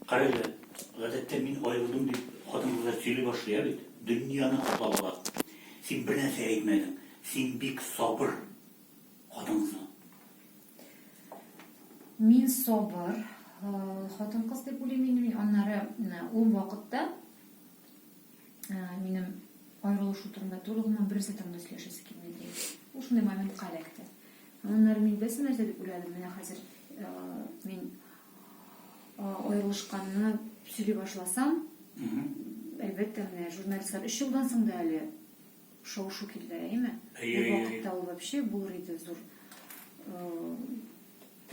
Карале, гадәттә мин аерылдым дип хатын-кызлар сөйли башлый, ә бит? Дөньяны каплап ала. Син бер нәрсә әйтмәдең, син бик сабыр хатын-кызмы? Мин сабыр хатын-кыз дип уйлыйм инде мин, аннары ул вакытта минем аерылышу турында түгел, гомумән бернәрсә турында сөйләшәсе килмәде. Ул шундый моментка эләкте. Аннары мин берсе нәрсә дип уйладым, менә хәзер мин аерылышканны сөйли башласам, әлбәттә, менә журналистлар өч елдан соң да әле шау-шу килде, әйеме? Бу вакытта ул вообще булыр иде зур.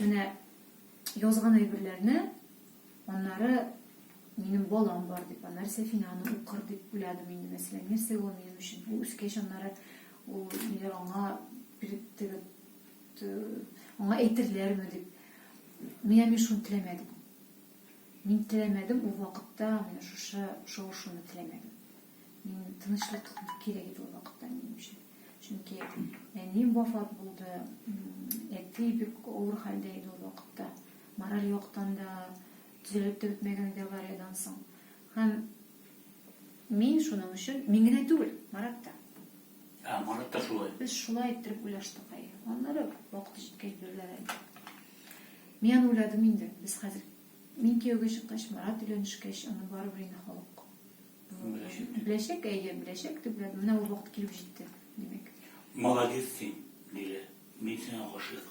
Менә язган әйберләрне аннары минем балам бар дип, аннары Сәфинаны укыр дип уйладым инде, мәсәлән, нәрсә ул минем өчен? Бу үскәч аннары Ул ниләр аңа аңа әйтерләрме дип. Менә мин шуны теләмәдем. Мин теләмәдем ул вакытта менә шушы шау-шуны теләмәдем. Мин тынычлык кирәк иде ул вакытта минем өчен. Чөнки әнием вафат булды, әти бик авыр хәлдә иде ул вакытта. Мораль яктан да, төзәлеп тә бетмәгән иде авариядән соң. Һәм Мин шуның өчен, мин генә түгел, Марат та. Ә, Марат та шулай. Без шулай иттереп уйлаштык, әйе. Аннары вакыты җиткәч бирерләр әле. Мин аны уйладым инде. Без хәзер, мин кияүгә чыккач, Марат өйләнешкәч, аны барыбер инде халык. Беләчәк дип. Беләчәк, әйе, беләчәк дип уйладым. Менә ул вакыт килеп җитте, димәк. Молодец син, Лилә. Мин сиңа гашыйк.